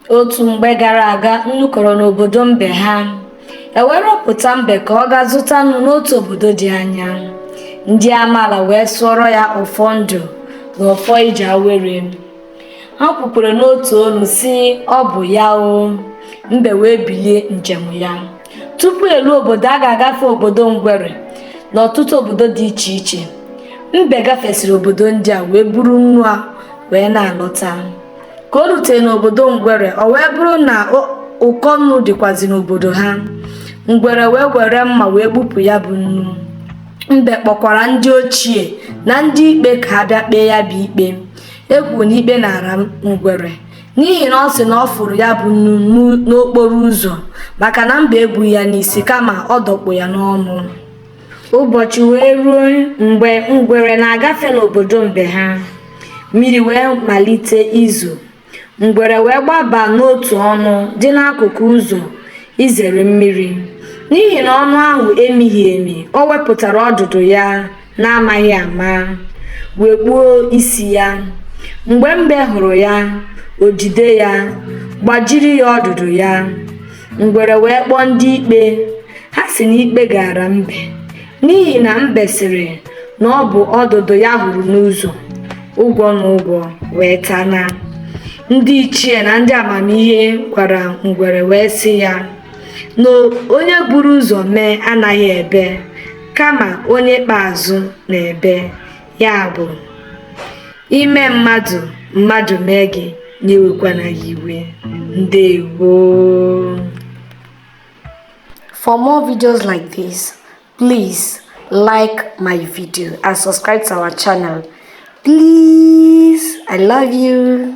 Otu mgbe gara aga, nnu kọrọ n'obodo mbe ha. E wee rọpụta mbe ka ọ gaa zụta nnu n'otu obodo dị anya. Ndị amaala wee sụọrọ ya ọfọ ndụ na ọfọ ije awere. Ha kwukwere n'otu olu sị ọ bụ ya o. Mbe wee bilie njem ya. Tupu e ruo obodo a ga-agafe obodo Ngwere na ọtụtụ obodo dị iche iche. Mbe gafesịrị obodo ndị a wee buru nnu a wee na-alọta. ka o rutere n'obodo ngwere o wee bụrụ na o- ụkọ nnu dịkwazi n'obodo ha ngwere wee were mma wee gbupụ ya bụ nnu mbe kpọkwara ndị ochie na ndị ikpe ka ha bịa kpee ya bụ ikpe e kwuo na ikpe naara ngwere n'ihi na ọ sị na ọ fụrụ ya bụ nnu n'u- n'okporo ụzọ maka na mbe ebughị ya n'isi kama ọ dọkpụ ya n'ọnụ ụbọchị wee ruo mgbe ngwere na-agafe n'obodo mbe ha mmiri wee malite izo ngwere wee gbaba n'otu ọnụ dị n'akụkụ ụzọ izere mmiri n'ihi na ọnụ ahụ emighị emi o wepụtara ọdụdụ ya n'amaghị ama wee kpuo isi ya mgbe mbe hụrụ ya o jide ya gbajiri ya ọdụdụ ya Ngwere wee kpọọ ndị ikpe, ha sị na ikpe gaara mbe, n'ihi na mbe sịrị na ọ bụ ọdụdụ ya hụrụ n'ụzọ, ụgwọ na ụgwọ wee tana. Ndị ichie na ndị amamihe gwara ngwere wee sị ya na onye buru ụzọ mee anaghị ebe, kama onye ikpeazụ na-ebe. ya bụ i mee mmadụ mmadụ mee gị na-ewekwana ya iwe ndewo For more videos like this, please like my video and subscribe to our channel. Please, I love you.